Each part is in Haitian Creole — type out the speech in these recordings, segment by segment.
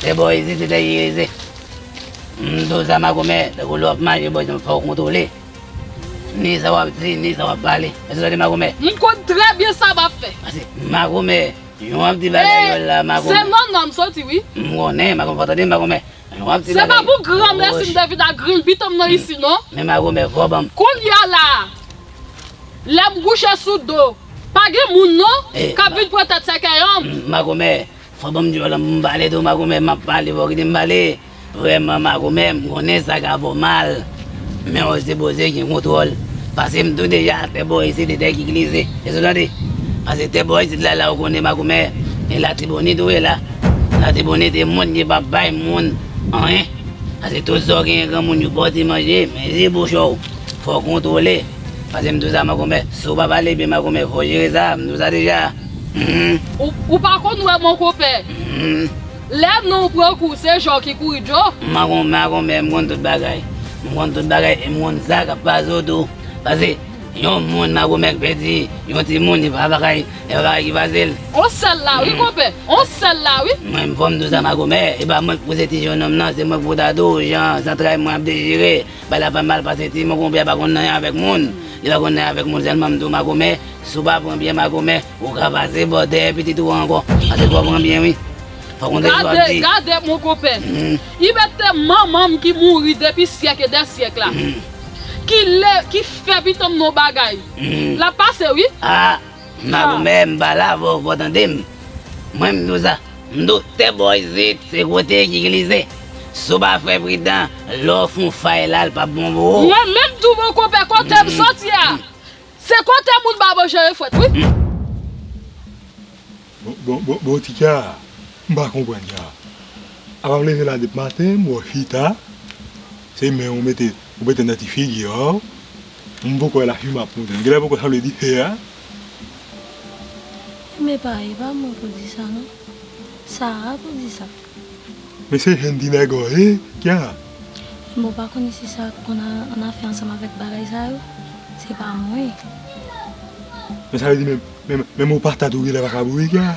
Se bò isit li te irize. Mdo sa makomè, tankou lè wap maje bò isit fòw kontwole. Ni sa wap di, ni sa wap pale. Èske w tande makomè? Mkonn trè byen sa map fè. Pase makomè, jan wap di bagay yo la makomè. Se nan nan msoti wi. Mkonnen makomè fòw tande makomè. Jan wap di bagay yo. Se pa pou granmèsi mte vin ak grinbitom nan isit non. Men makomè fò banm. Kounya la! Lèm kouche sou do. Pa gen moun non kap vin pran tèt sèkèy humm. Makomè fò banm dyòl an poum pale tou makomè map pale fò kitem pale vrèman makomè m konnen sa ka fèw mal men ou sipoze gen kontwòl pasem tou deja tè bò isit se tè ki glize èske ou tande pase tè bò isit la la ou konnen makomè e latibonit ou wè la latibonit e moun ki pap bay moun anyen pase tout sa ou genyen granmoun yo bòw ti manje men li bouch ou. Fòw kontrole Pase m douza makomè Si w pa pale byen makomè fòw jere sa M douza deja Humm. Ou pa konn wè monkope Humm. Lè non w pran kou se jò ki kouri djo Makomè makomè m konn tout bagay M konn tout bagay e m konn sa k ap pase w tou Pase yon moun makomè k pèdi yon timoun e pa bagay e pa bagay ki fasil On sèl la wi konpè On sèl la wi. Mwen m fò m douza makomè E pa mwen k pouse ti jennonm nan se mwen k pou ta dou w jan zantray mwen ap dechire. Bay la pa mal pase ti moko bya pa konn anyen avèk moun li pa konn anyen avèk moun sèlman mtou makomè sou pa pran byen makomè ou ka pase bò dèyè pitit ou an ankò pase fò pran byen wi fò konte sa wap di. Gade gade mon konpè ibèt te manmanm ki mouri depi syèk e dè syèk la ki lè ki fè pitanm non bagay lap pase wi. Mabou men m pa la vò fò tande m mwen m diw sa m doktè bò isit se kote ki glize si w pa fè pridan lè w fon fay la l pap bon pou ou. Mwen menm tou bon konpè kote m soti a se kote moun ba manje yo fwèt wi. Bon ti kya m pa konprann kya a pap leve la dep maten m wè w chita se men w mete Ou bete nan ti figi an. M poko wè la fi map moute. Gèlè poko sa vle di fè a. M epa e pa mwen pou di sa non. Sara pou di sa. Men se jèn ti nèg an ye kya. M bon pa konnen si sa konn an afè ansanm avèk bagay sa yo. Se pa mwen. Men sa vle di menm ou pa ta tou gèlè pa ka boure kya.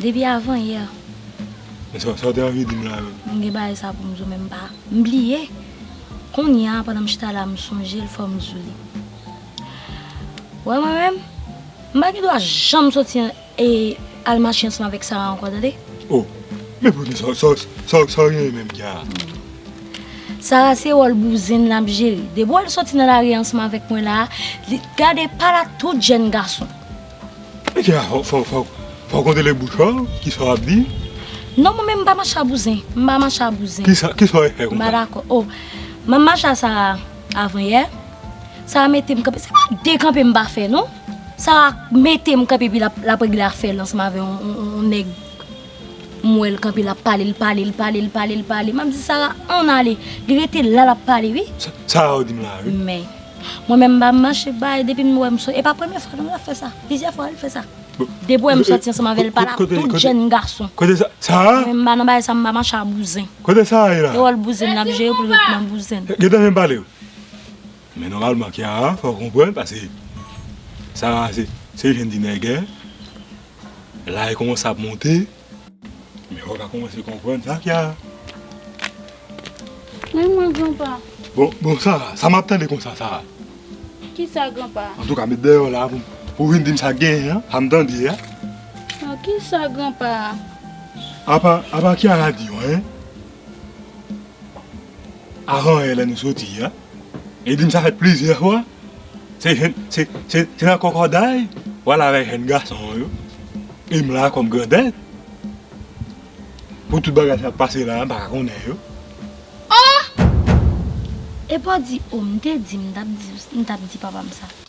Depi avan yè. Men sa w te anvi di m la menm? M gen bagay sa pou m di w men m pa. M bliye. Kounya a pandan m chita la m sonje l fò m di w li. Ou wè mwen menm? M pa gen dwa janm soti e al mache ansanm avèk Sara ankò tande. O! Men poukisa sa w genyen menm ki a? Sara se wòl bouzen l ap jere. Depi w al soti nan lari ansanm avèk mwen la a, li gade pa l a tout jèn gason. Fòk ou dele bouch ou, kisa wap di? Non mwen menm m pa mache a bouzen, m pa mache a bouzen. Kisa, kisa ou fè konsa? M pa dakò. O, mwen mache a sa avan yè, sa mete m kanpe, se pa de kanpe m pa fè non. Sa mete m kanpe epi lap regle afè l ansanm avè yon nèg. M wè l kanpe l ap pale, l pale, l pale, l pale, l pale. M ap di Sara, ann ale. Li rete la, l ap pale wi. Sara ou di m la a wi. Men, mwen menm m pa mache bay depi m wè m sot. E pa premye fwa non l ap fè sa. Plizyè fwa l fè sa. Depi w wè m soti ansanm avè l, pale ak tout jenn gason. Kote Sara? Mwen m pa nan bagay sa, m pa mache a bouzen. Kote Sara ye la a? Se wòl bouzen l ap jwe pou l ret nan bouzen l. Gen tan m vin pale w. Men nòmalman Kiara fè w konprann pase Sarah se jèn ti nègè la li kòmanse ap monte men fòk a kòmanse konprann sa Kiara. Men mwen gran pa. Bon Sarah sa map tande konsa Sarah. Kisa gran pa. Antouka met dèyè w la pou vin dim sak genyen an sa m tande a. Bon kisa gran pa. Apa Kiara di yo anyen avan yè lè nou soti a. Li di m sa fèt plizyè fwa, se jèn, se, se nan kòkòday w al avèk jèn gason an yo, e m la kòm grandèt, pou tout bagay sa k pase la a m pa ka konnen yo. Ohh! Epa w di, oh m te di m tap di w, m tap di papa m sa.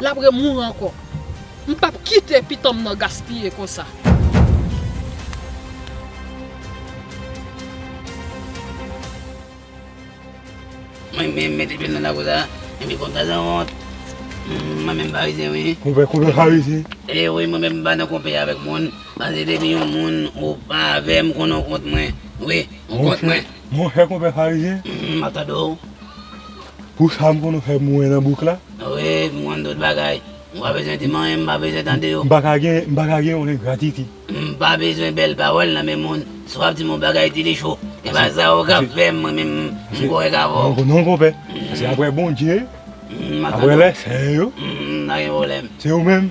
Lap re mouri ankò. M pap kite pitanm nan gaspiye konsa. Mwen menm mete pye m nan lakou sa e pi kontan san wont. Mwen menm pa rize wi. Konpè konpè pa rize. E wi mwen menm m pa nan konpè avèk moun. Pase depi yon moun ou pa avè m konn ou kont mwen wi. Ou kont mwen. Monchè konpè pa rize. M ap tande w. Pou sa m konn fè mwen nan bouk la. Wi, m konn tout bagay. M pa bezwen di m anyen, m pa bezwen tande yo. M pa ka gen, m pa ka gen yon engratitid. M pa bezwen bèl pawòl nan men moun. Si w ap di m yon bagay di li cho. E pa sa ou ka fè m, mwen menm, m korèk avè w. Non konpè. Se aprè Bondye, aprè lèsen yo. M pa gen pwoblèm. Se ou menm,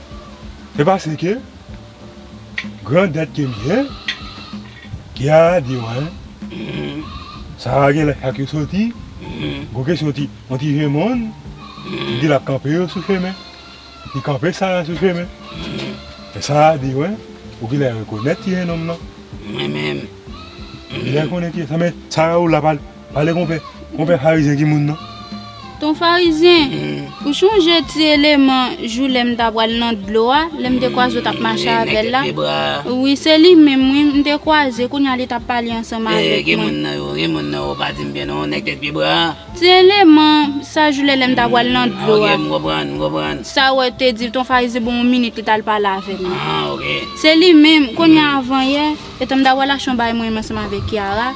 Se paske gran dèt ke m gen ki a di mwen sa gen lè chak yo soti gwo kesyon ti yon ti je moun li di l ap kanpe yo sou chemen li kanpe sa a sou chemen e sa a di mwen ou gen lè rekonèt ti jenòm lan ou gen lè konnen ti jenòm lan men sa a ou la pa Pale konpè, konpè farizyen ki moun nan? Ton farizyen, ou chonje ti eleman jou lè m ta pral nan dlo a, lè m te kwaze w t ap mache avè l la? Wi, se li menm wi, m te kwaze, kounye a li t ap pale ansanm avèk mwen. Ki moun nan yo? Ki moun nan yo? Ou pa di m byen non, nèg 2 pye bwa a? Ti eleman, sa jou lè lè m ta pral nan dlo a. Ok, m konprann, m konprann. Sa wè te di ton farizyen ban w yon minit li t al pale avè m nan. Se li menm, kounye a avan yè. Etan m ta wè lachan bay mwen ansanm avèk Kiara,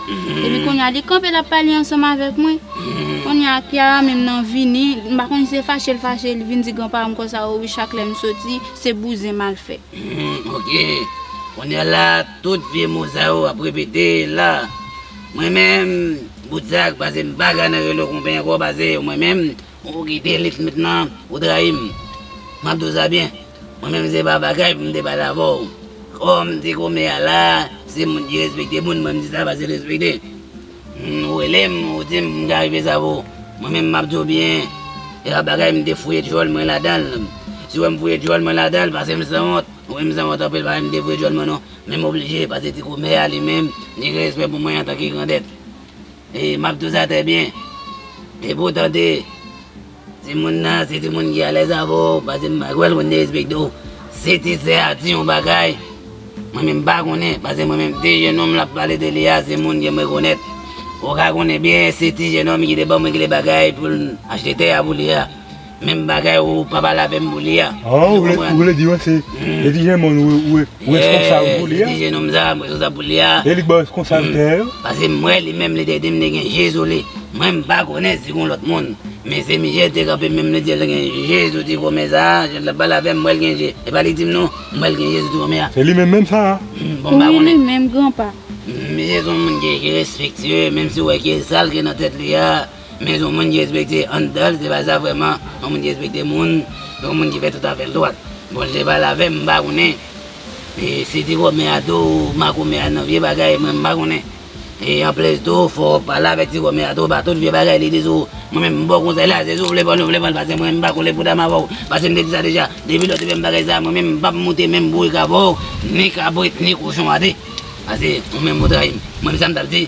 epi kounye a li kanpe l ap pale ansanm avèk mwen. Kounye a Kiara menm nan vini, m pa konn si se fache l fache, li vin di gran paran m konsa o wi chak lè m soti, se bouzen m al fè. Hum ok, kounye a la tout vye mo sa yo ap repete la. Mwen menm, bout sa k pase m pa ka nan rele w konpè ankò pase mwen menm, Ou kite li fmnt nan ou trayi m map di w sa byen mwen menm se pa bagay pou m te pale avè w kòm ti kòmè a la se moun ki respekte moun mwen m di sa pase respekte ou rele m ou di m m ka rive sa pou mwen menm map di w byen se pa bagay m te fouye djòl mwen ladan l si w wè m fouye djòl mwen ladan l pase m sanwont ou wè m sanwont anpil pa wè m te fouye djòl mwen non men m oblije pase ti kòmè a li menm li gen respè pou mwen antanke grandèt. E map douz atè byen. Depi w tande timoun nan se timoun ki alèz avè w, pase m pa kwè l konn derespekte w. Si ti sè a di yon bagay, mwen menm m pa konnen, pase mwen menm ti jenòm l ap pale de li a se moun ke m rekonèt. Ou ka konnen byen se ti jenòm ki te ban mwen kle bagay pou l achte tè a pou li a. Menm bagay ou pa pale avèm pou li a. Ah ou vle ou vle di yo se e ti jen moun ou ou ou responsable pou li a. E ti jen nonm sa m responsable pou li a. E li k baw responsable tè yo. Pase m wè li menm li te dim li gen je sou li. Mwen m pa konnen si gon lòt moun. Men se misye l te kanpe menm li di l gen je sou ti fòmè sa a, jan lap pale avèm m wèl gen je. Epa li dim nou m wèl gen je sou ti fòmè a. Se li menm menm sa a. Bon m pa konnen. Wi li menm granpa. Misye son moun ki respectueux menm si w wè ki e sal ki nan tèt li a. Men son moun ki respekte anndanl se pa sa vreman yon moun ki respekte moun se yon moun ki fè tout afèl dwat bon li te pale avèm m pa konnen si ti kòmè a tou ou makomè a nan vye bagay mwen m pa konnen e anplis tou fò ou pale avèk ti kòmè a tou pa tout vye bagay li di sou ou mwen menm m baw konsèy la se si ou vle pran ou vle pranl paske mwen m pa kole poudam avèw paske m te di sa deja depi lè ou te fèm bagay sa mwen menm m pap moute menm bourik avèw ni kabrit ni kochon a de paske ou menm ou trayim mwen m sa m tap di.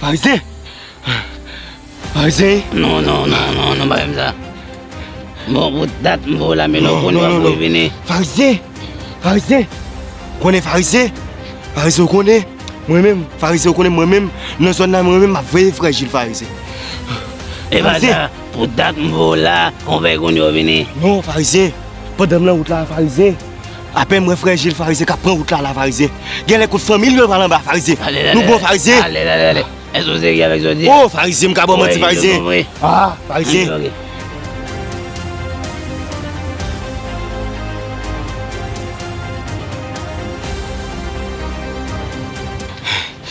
Farizyen! Farizyen! Non, non, non, non, non, pa fè m sa. Bon bout dat m voye w lame lò konnen wap voye vini. Non, non, non, Farizyen! Farizyen! Ou konnen Farizyen? Farizyen ou konnen? Mwen menm, Farizyen ou konnen mwen menm? Nan zòn nan mwen menm map veye frè Jil Farizyen. Farizyen! Epa sa, pou dat m voye w la, on veye konnen wap vini. Non, Farizyen! Pandan m lan wout la Farizyen, apèn m wè frè Jil Farizyen k ap pran wout la la Farizyen, gen lè kot fanmi l yo pral anba Farizyen, nou bon Farizyen? Ale ale ale, èske ou serye avèk sa w di a? O Farizyen m ka ba w manti Farizyen? A Farizyen!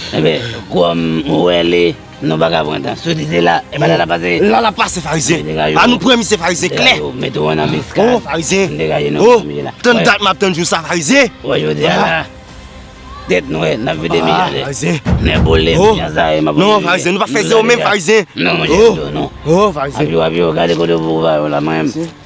Enben, kòm m wè li. Nou paka pran tan soti se la epa la la pase La la pase farizyen An nou pran misye farizyen klè Yo met ou an anbiskad Oh farizyen Degaje nou Oh tann dat map tann jou sa farizyen Ou wè jodi a la Tèt nwè nap vide mi jade Farizyen Nè bole m jan sa e map vide Non farizyen nou pa fè ze ou menm farizyen Non mwen jèm do nou Oh farizyen Abiw abiw gade kote ou pou ou va yo la mwen menm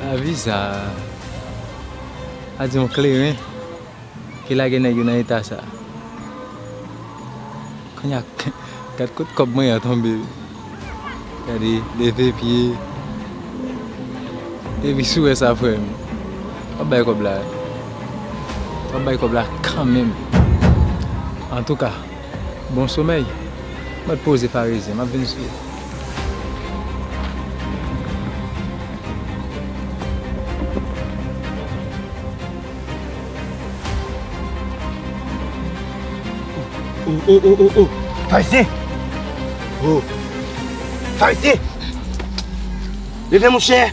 Lavi sa a di yon kleren ki lage nèg yo nan eta sa. Kounya gad kot kòb mwen an tonbe wi. Gade leve pye. Epi si w wè sa frè m, w ap bay kòb la. W ap bay kòb la kanmenm. Antouka. Bon somèy. Mwen t poze farezyen. Map vin sou ou. O o o o Farizyen O Farizyen Leve mouche